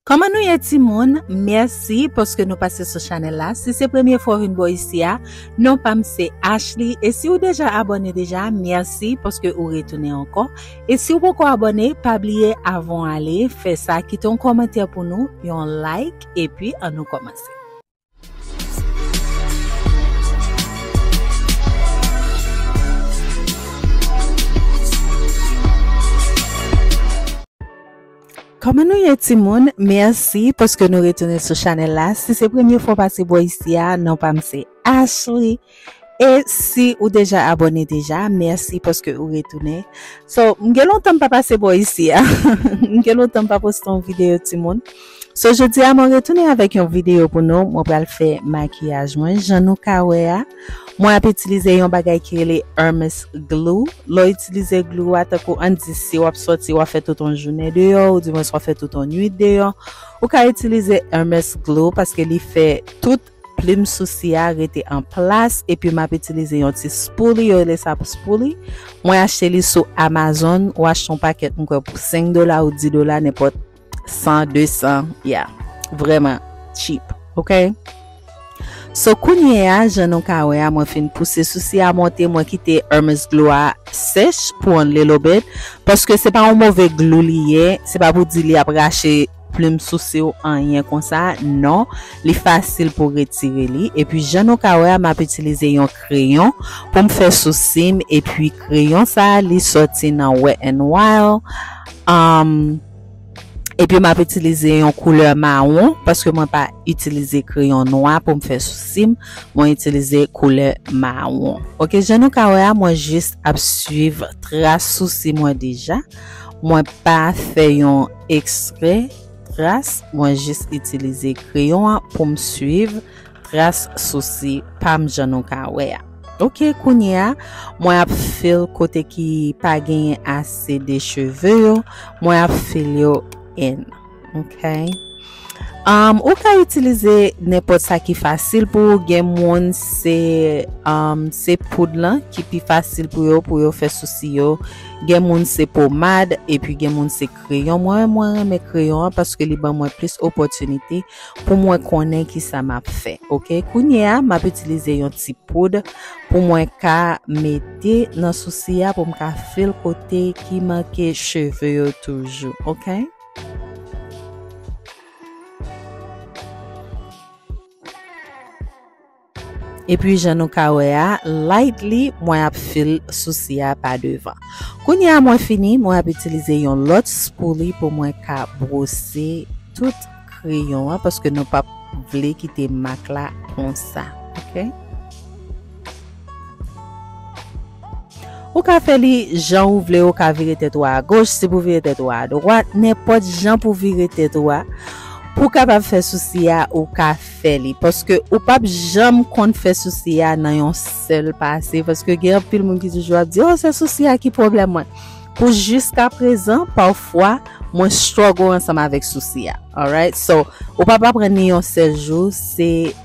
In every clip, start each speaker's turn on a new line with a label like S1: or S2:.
S1: Kòman nou ye timoun? Mèsi paske nou pase sou chanèl la. Si se premye fwa ou vin bò isi a, non pa m se Ashley. E si ou deja abòne deja, mèsi paske ou retounen ankò. E si ou poko abòne, pa bliye avan w ale, fè sa, kite yon kòmantè pou nou, yon like, epi an nou kòmanse. Kòman nou ye timoun? Mèsi paske nou retounen sou chanèl la. Si se premye fwa w pase bò isi a, non pa m se Ashley. E si ou deja abone deja merci paske ou retounen So m gen lontan m pa pase bò isi a M gen lontan m pa poste yon video timoun So jodi a mwen retounen avèk yon video pou nou Mwen pral fè makiyaj mwen jan nou ka wè a Mwen ap itilize yon bagay ki rele Hermes glue Lè w itilize glue a tankou an di si w ap sòti w ap fè tout yon jounen deyò ou dimwens w ap fè tout yon nwit deyò Ou ka itilize Hermes glue paske li fè tout Plim sousi a rete an plas epi map itilize yon ti spoolie yo rele sa spoolie mwen achte li sou amazon ou achte yon pakèt m kwè pou 5 dola ou 10 dola nenpòt 100 200 ya vrèman cheap ok so kounyea jan nou ka wè a mwen fin pouse sousi a monte mwen kite hermes glou a sèch pou on little bit paske se pa yon move glou li ye se pa pou di li ap rache plim souse w anyen konsa non li fasil pou retire li epi jan nou ka wè a map itilize yon kreyon pou m fè sousi m epi kreyon sa li sòti nan wet n wild um epi map itilize yon koulè mawon paske mwen pa itilize kreyon nwa pou m fè sousi m mwen itilize koulè mawon ok jan nou ka wè a mwen jis ap swiv tras sousi mwen deja. Mwen pa fè yon ekstrè tras mwen jis itilize kreyon an poum swiv tras sousi pam jan nou ka wè a. Ok kounye a mwen ap fil kote ki pa genyen ase de cheve yo mwen ap fil yo en. Ok Um ou ka itilize nenpòt sa ki fasil pou ou gen moun se um, se poud lan ki pi fasil pou yo pou yo fè sousi yo gen moun se pomad epi gen moun se kreyon mwen mwen renmen kreyon an paske li ban mwen plis opòtinite pou mwen konnen ki sa m ap fè ok kounye a m ap itilize yon ti poud pou mwen ka mete nan sousi a pou m ka fil kote ki manke cheve yo toujou ok. E pi jan nou ka wè a, lightly mwen ap fill sousi a pa devan. Kounye a mwen fini, mwen ap itilize yon lòt spoolie pou mwen ka bwose tout kreyon an paske nou pap vle kite mak la konsa. Ou ka fè li jan ou vle ou ka vire tèt ou a goch si pou vire tèt ou a dwat nenpòt jan pou vire tèt ou a pou kapab fè sousi a ou ka fè li paske ou pap janm konn fè sousi a nan yon sèl pase paske gen anpil moun ki toujou ap di oh se sousi a ki pwoblèm mwen pou jiska prezan pafwa mwen struggle ansanm avèk sousi a alright so ou pap aprann ni yon sèl jou se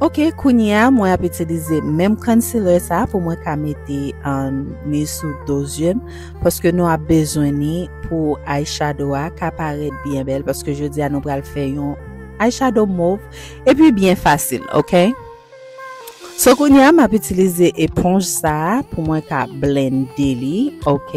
S1: Ok kounye a mwen ap itilize menm concealer sa pou mwen ka mete an ni sou do zye m paske nou ap bezwen ni pou eye shadow a ka parèt byen bèl paske jodi a nou pral fè yon eye shadow mov epi byen fasil ok so kounye a m ap itilize eponj sa pou mwen ka blende li ok.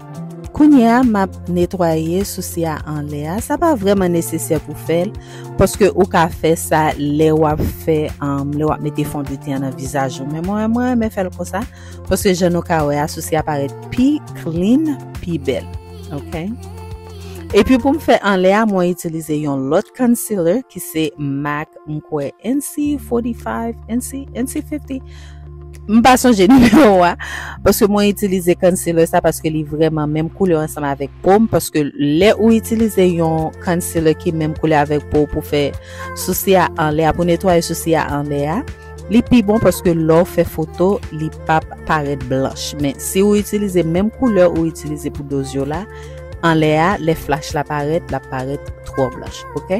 S1: Kounye a map netwaye sousi a anlè a sa pa vrèman nesesè pou fèl paske ou ka fè sa lè wap fè lè wap mete fondetyen an nan vizaj ou men mwen mwen renmen fèl konsa paske jan nou ka wè a sousi a parèt pi clean pi bèl ok epi poum fè anlè a mwen itilize yon lòt concealer ki se mac mkwè NC 45 NC NC 50 M pa sonje nimewo a paske mwen itilize concealer sa paske li vreman menm koulè ansanm avèk po m paske lè ou itilize yon concealer ki menm koulè avèk po pou fè sousi a anlè a pou netwaye sousi a anlè a li pi bon paske lè ou fè foto li pap parèt blanch men si ou itilize menm koulè ou itilize pou doz yo la anlè a lè flach la parèt la parèt twò blanch ok.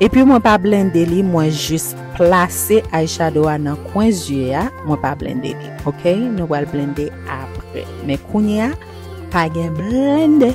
S1: Epi mwen pa blende li mwen jis plase eyeshadow a nan kwen zye a mwen pa blende li ok nou pral blende apre men kounye a pa gen blende.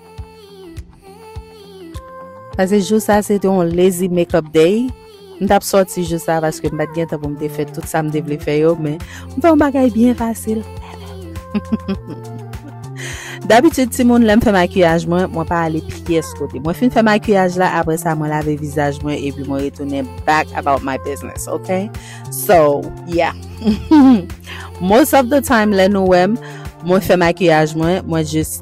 S1: Pase jou sa se te yon lazy make up day. M tap soti jou sa paske m pat gen tan pou m te fè tout sa m te vle fè yo men m fè yon bagay byen fasil. Dabitid ti moun lèm fè makiyaj mwen, mwen pa ale pyès kote. Mwen fin fè makiyaj la apre sa mwen lave vizaj mwen epi mwen retounen back about my business ok. So yeah Most of the time lè nou wèm mwen fè makiyaj mwen, mwen just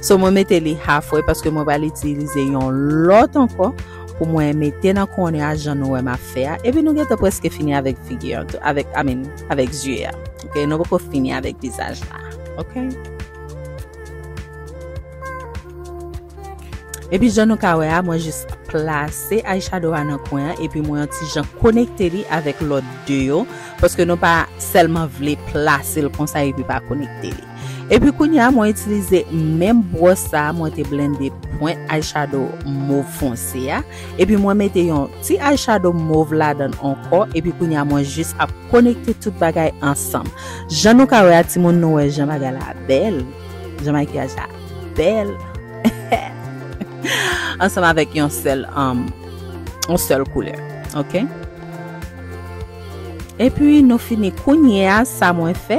S1: So mwen mete li half way paske mwen pral itilize yon lòt ankò pou mwen mete nan kòne a jan nou wè m ap fè a. Epi nou gentan preske fini avèk figi an tou, avèk, I mean, avèk zye a. Ok, nou poko fini avèk vizaj la. Ok. Epi jan nou ka wè a, mwen jis plase eyeshadow a nan kwen an epi mwen yon ti jan konekte li avèk lòt de yo paske nou pa sèlman vle plase l konsa epi pa konekte li. Epi kounye a mwen itilize menm bwòs sa a mwen te blende pwent eyeshadow mov fonse a, epi mwen mete yon ti eyeshadow mov ladan ankò, epi kounye a mwen jis ap konekte tout bagay ansanm. Jan nou ka wè a timoun nou wè jan bagay la bèl, jan makiyaj la bèl ansanm avèk yon sèl yon sèl koulè ok. Epi nou fini kounye a sa mwen fè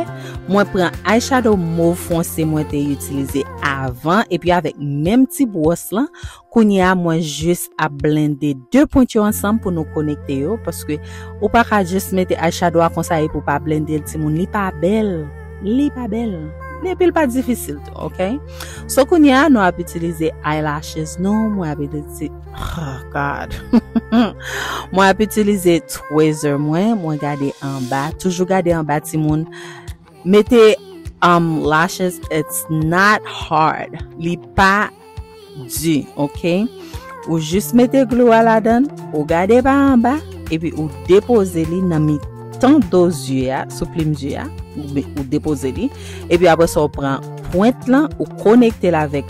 S1: mwen pran eyeshadow mov fonse mwen te itilize avan epi avèk menm ti bwòs lan kounye a mwen jis ap blende 2 pwent yo ansanm pou nou konekte yo paske ou pa ka jis mete eyeshadow a konsa epi ou pa blende l timoun li pa bèl li pa bèl epi l pa difisil tou ok so kounye a nou ap itilize eyelashes nou mwen ap itilize Oh God. mwen ap itilize tweezer mwen, mwen gade anba, toujou gade anba timoun. Mete um lashes it's not hard. Li pa di, ok? Ou jis mete glou a ladan, ou gade pa anba, epi ou depoze li nan mi tan do zye a, sou plim zye a, ou depoze li, epi apre sa ou pran pwent lan, ou konekte l avèk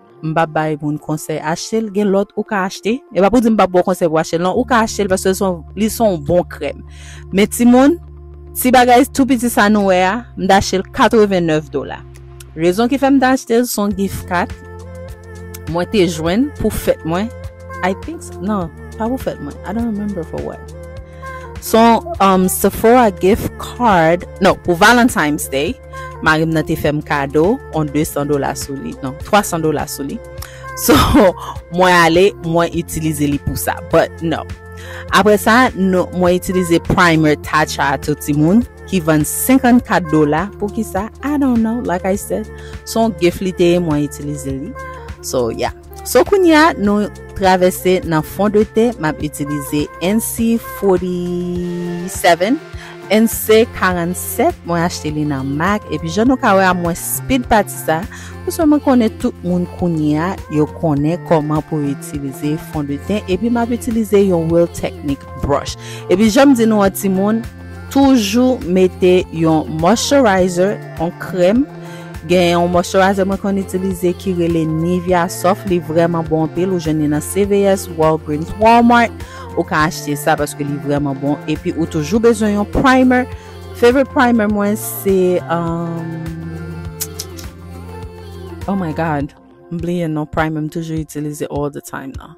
S1: M pap bay moun konsèy achte l, gen lòt ou ka achte. E pa pou di m pap bò konsèy pou achte l non, ou ka achte l paske li son bon krèm. Men timoun, ti bagay tou piti sa nou wè a, m ta achte l 89 dola. Rezon ki fè m ta achte l son gift card mwen te jwenn pou fèt mwen, I think, nan, pa pou fèt mwen, I don't remember for what. Son um, Sephora gift card, non, pou Valentine's Day, Marim nan te fèm kado on 200 dola sou li. Non, 300 dola sou li. So, mwen ale, mwen itilize li pou sa. But, no. Apre sa, mwen itilize primer Tatcha a tou ti moun. Ki vann 54 dola. Pou ki sa? I don't know. Like I said. Son gif li te ye mwen itilize li. So, yeah. So kounya nou travèse nan fon de tè map itilize NC 47 NC 47 mwen achte li nan mac epi jan nou ka wè a mwen speed pati sa paske mwen konnen tout moun kounya yo konnen koman pou itilize fon de tè epi map itilize yon real technique brush epi janm di nou an timoun Toujou mete yon moisturizer, yon krèm. Gen yon moisturizer mwen konn itilize ki rele Nivea Soft, li vrèman bon anpil. Ou jwenn li nan CVS, Walgreens, Walmart. Ou ka achte sa paske li vrèman bon. Epi ou toujou bezwen yon primer. Favorite primer mwen se... Um, oh my God! M bliye non primer m toujou itilize all the time nan.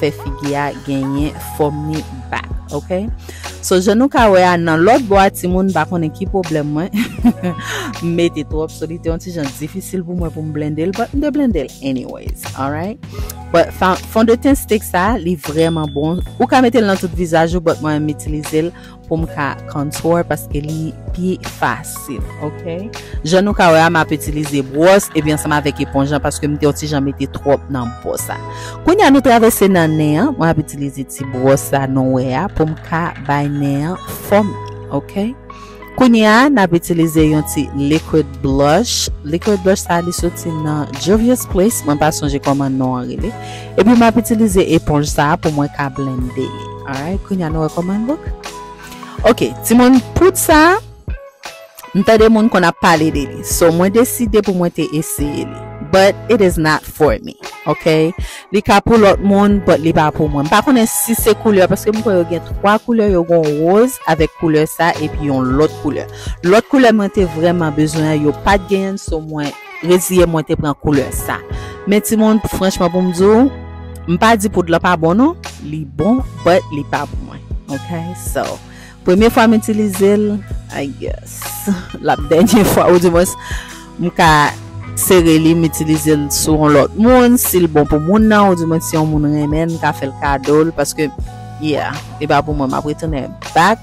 S1: fè figi a genyen fòm ni ba ok so jan nou ka wè a nan lòt bò a ti moun pa konnen ki pwoblèm mwen mete twòp so li te yon ti jan difisil pou mwen pou m blende l but m de blende l anyways alright but fond de ten stick sa li vreman bon ou ka mete l nan tout vizaj ou but mwen m itilize l pou m ka contour paske li pi fasil ok jan nou ka wè a m ap itilize bwòs epi ansanm avèk eponj lan paske m te yon ti jan mete twòp nan bò sa kounye a nou travèse nan nen an mwen ap itilize ti bwòs sa nou wè a pou m ka bay nen an fòm ok kounye a n ap itilize yon ti liquid blush liquid blush sa li soti nan Juvia's Place mwen pa sonje kòman non an rele epi m ap itilize eponj sa pou mwen ka blende li Alright, kounya nou wè kòman l look. Ok, timoun poud sa, m tande moun konn ap pale de li. So mwen deside pou mwen te eseye li. But it is not for me. Ok, li ka pou lòt moun, but li pa pou mwen. M pa konnen si se koulè, paske m kwè yo gen 3 koulè, yo gon woz avèk koulè sa epi yon lòt koulè. Lòt koulè mwen te vrèman bezwen an, yo pat genyen l, so mwen Reziye mwen te pran koulè sa. Men timoun franchman pou m di w, m pa di poud lan pa bon non, li bon but li pa pou mwen ok so premye fwa m itilize l I guess l ap dènye fwa ou di mwens m ka sere li m itilize l sou yon lòt moun si l bon pou moun nan ou di mwen si yon moun renmen l m ka fè l kado l paske yeah li pa pou mwen m ap retounen back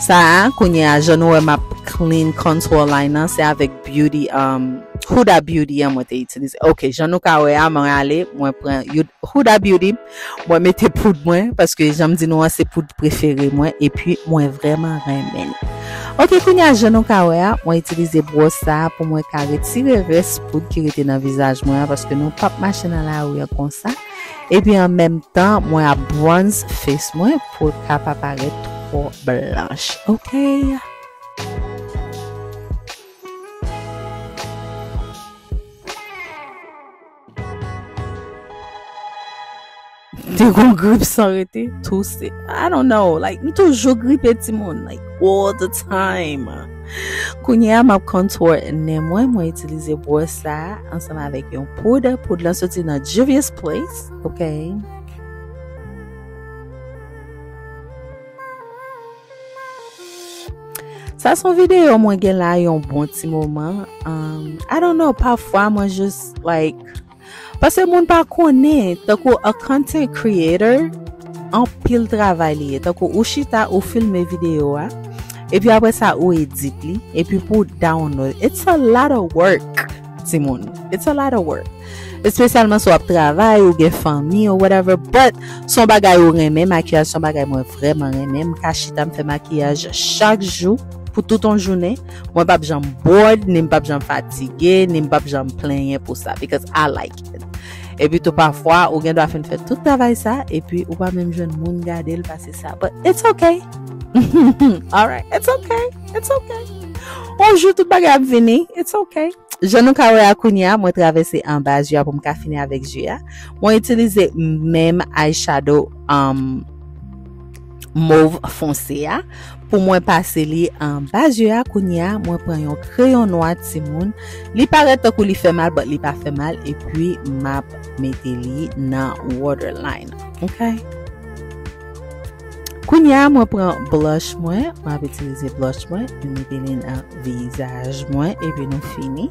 S1: Sa a kounye a jan nou wè map clean contour line nan se avèk beauty um, Huda Beauty an mwen te itilize. Ok jan nou ka wè a mwen ale mwen pran Huda Beauty mwen mete poud mwen paske janm di nou an se poud prefere mwen epi mwen vrèman renmen li. Ok kounye a jan nou ka wè a mwen itilize bwòs sa a pou mwen ka retire rès poud ki rete nan vizaj mwen an paske nou pap mache nan lari an konsa. Epi an menm tan mwen ap bronz face mwen pou l ka pa parèt twò blanch ok. Te gon grip san rete, touse. I don't know like m toujou gripe timoun like all the time. Kounye a map contour nen mwen, mwen itilize bwòs sa ansanm avèk yon poud, poud lan soti nan Juvia's Place, ok. Sa son video mwen gen la yon bon ti moman, um, I don't know, pafwa mwen just like Pase moun pa konnen tankou a content creator anpil travay li ye tankou ou chita ou filme video a epi apre sa ou edit li epi pou ou download it's a lot of work ti moun it's a lot of work espesyalman sou ap travay ou gen fanmi ou whatever but son bagay ou renmen makiyaj son bagay mwen vreman renmen m ka chita m fè makiyaj chak jou pou tout on jounen. Mwen pap janm bored, ni m pap janm fatige, ni m pap janm plenyen pou sa. Because I like it. Epi tou pafwa, ou gen dwa fin fè tout travay sa, epi ou pa menm jwenn moun gade l pase sa. But it's ok. Alright, it's ok. It's ok. On jou tout bagay ap vini. It's ok. Jan nou ka wè a kounye a, mwen travèse anba zye a pou m ka fini avèk zye a. Mwen itilize menm eyeshadow. Um, mov fonse a pou mwen pase li anba zye a kounye a mwen pran yon kreyon nwa ti moun li parèt tankou li fè mal bat li pa fè mal epi map mete li nan waterline ok kounye a mwen pran blush mwen mwen ap itilize blush mwen mwen mete li nan vizaj mwen epi nou fini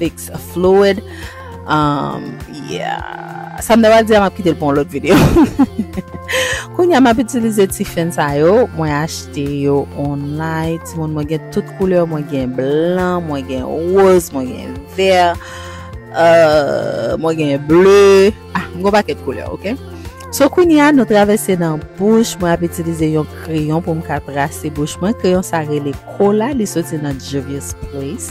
S1: fix a fluid um, yeah sa m daba di a m ap kite l pou yon lòt videyo koun ya m ap itilize ti fen sa yo mwen achte yo online ti moun mwen gen tout koulè mwen gen blan, mwen gen woz mwen gen ver euh, mwen gen ble ah, m gwa paket koulè, ok? So kouni a nou travese nan bouch mwen ap itilize yon kreyon pou m ka trase bouch mwen. Kreyon sa rele kola li soti nan Juvia's Place.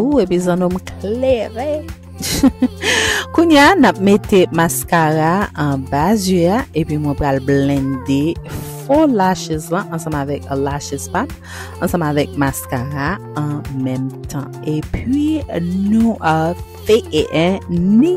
S1: Ooh epi zanno m klere. Kounya nap mete maskara an ba zye a epi mwen pral blende fo lashes lan ansanm avèk lashes pam ansanm avèk maskara an menm tan. Epi nou a fe e ni.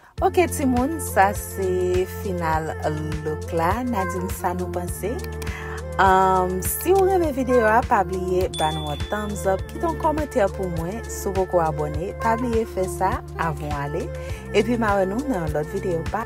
S1: Ok timoun sa se final look la na di m sa nou panse si ou renmen video a pa bliye ba nou an thumbs up kite yon kòmantè pou mwen si ou poko abòne pa bliye fè sa avan w ale epi ma wè nou nan yon lòt video bye.